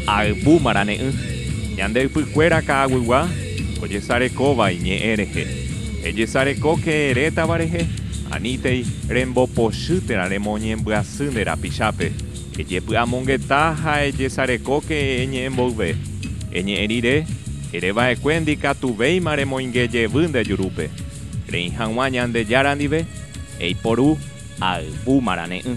Ayvu marane'ỹ, ñande ypykuéra ka'aguygua ojesarekóva iñe'ẽ rehe. Ejesarekóke retãva rehe, anítei rembopochy térã remoñembyasy nde rapichápe. Ejepy'amongeta ha ejesarekóke eñe'ẽ mboyve. Eñe'ẽ rire, ere va'ekue ndikatuvéima remoinge jevy nde jurúpe. Reĩ hag̃ua Ñandejára ndive, eiporu ayvu marane'ỹ.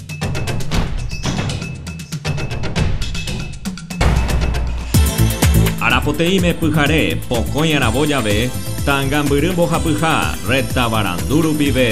Arapoteĩme pyhare, pokõi aravo jave, Tangambyry mbohapyha, retavarandu rupive.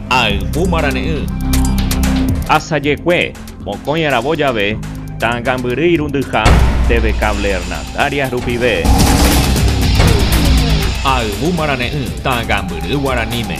Ayvu marane'ỹ. Asajekue, mokõi aravo jave, ta'ãngambyry irundyha TV Cable Hernandarias rupive. Ayvu marane'ỹ, ta'ãngambyry guaraníme.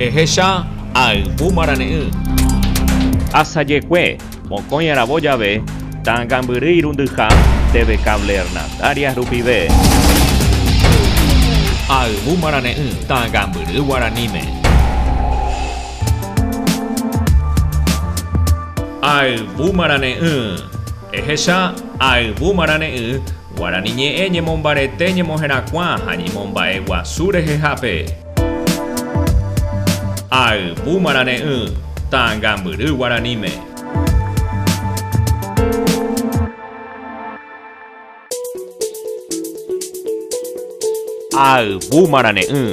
Ehecha ayvu marane'ỹ. Asajekue, mokõi aravo jave, ta'ãngambyry irundyha teve cable Hernandarias rupive. Ayvu marane'ỹ ta'ãngambyry guaraníme. Ayvu marane'ỹ. Ehecha ayvu marane'ỹ Guarani ñe'ẽ ñemombarete ñemoherakuã ha ñemomba'e guasu rehehápe. Ayvu marane'ỹ, Tangambyry guaraníme. Ayvu marane'ỹ,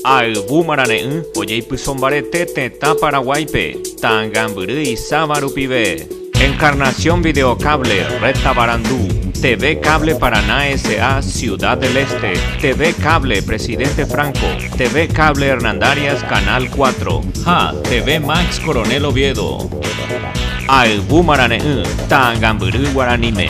Ayvu marane'ỹ ojeipysombarete tetã Paraguáipe, Tangambyry isáva rupive. Encarnación Videocable, Red Tabarandú, TV Cable Paraná S.A. Ciudad del Este, TV Cable Presidente Franco, TV Cable Hernandarias Canal 4, ha TV Max Coronel Oviedo. Ayvu marare'ỹ, ta'angambyry guaraníme.